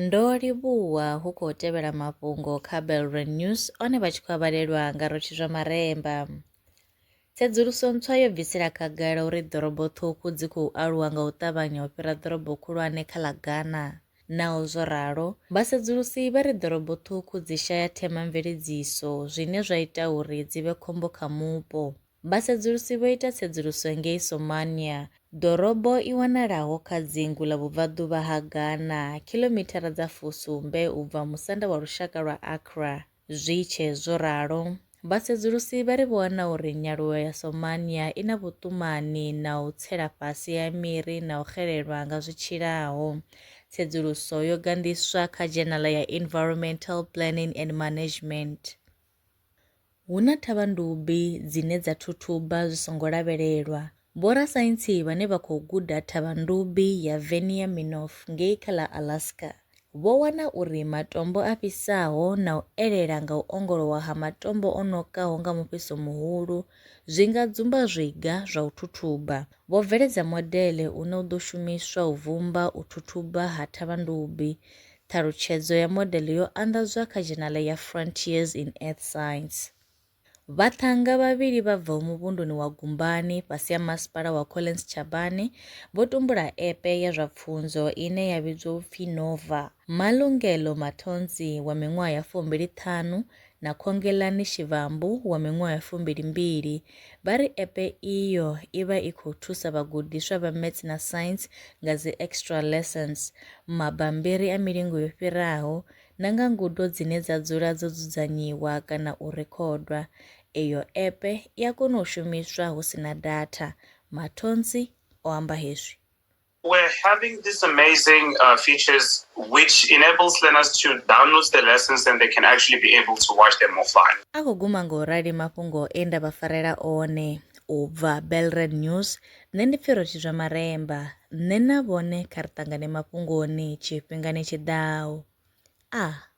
Ndo livhuwa hu khou tevhela mafhungo kha Belre News one vha tshi khou avhalelwa nga rotshi zwa maremba. Tsedzuluso ntswa yo bvisela khagala uri ḓorobo ṱhukhu dzi khou aluwa nga u ṱavhanya u fhira ḓorobo khulwane kha ḽa Ghana. Naho zwo ralo, vhasedzulusi vha ri ḓorobo ṱhukhu dzi shaya themamveledziso, zwine zwa ita uri dzi vhe khombo kha mupo. Vhasedzulusi vho ita tsedzuluso ngei Somania, ḓorobo i wanalaho kha dzingu ḽa vhubvaḓuvha ha Ghana, khilomithara dza fusumbe u bva musanda wa lushaka lwa Accra. Zwi tshe zwo ralo, vhasedzulusi vha ri vho wana uri nyaluwo ya Somania i na vhuṱumani na u tsela fhasi ha miri na u xelelwa nga zwi tshilaho. Tsedzuluso yo ganḓiswa kha dzhenala ya Environmental Planning and Management. Hu na thavhandubi dzine dza thuthuba zwi songo lavhelelwa. Vhorasaintsi vhane vha khou guda thavhandubi ya Venier Minoff ngei kha ḽa Alaska, vho wana uri matombo a fhisaho na u elela nga u ongolowa ha matombo o nokaho nga mufhiso muhulu zwi nga dzumba zwiga zwa u thuthuba. Vho bveledza modele une u ḓo shumiswa u vhumba u thuthuba ha thavhandubi Ṱhalutshedzo ya modele yo anḓadzwa kha dzhenala ya Frontiers in Earth Science. Vhaṱhannga vhavhili vha bvaho muvhunduni wa Gumbani fhasi ha Masipala wa Collins Chabane vho tumbula epe ya zwa pfunzo ine ya vhidzwa u pfi Nova. Malungelo Mathonsi wa miṅwaha ya fumbili ṱhanu na Khongelani Shivambu wa miṅwaha fumbili-mbili, vha ri epe iyo i vha i khou thusa vhagudiswa vha Maths na Science nga dzi extra lessons, mabambiri a milingo yo fhiraho na nga ngudo dzine dza dzula dzo dzudzanyiwa kana u rekhodwa. Eyo epe i a kona u shumiswa hu si na datha, Mathonsi o amba hezwi. We're having these amazing uh, features which enables learners to download the lessons and they can actually be able to watch them offline. a khou guma nga u rali mafhungo e nda vha farela one u bva belred news nṋe ndi pfirothi zwa maremba nṋe na vhone kha ri ṱangane mafhungoni tshifhingani tshi ḓaho a ah.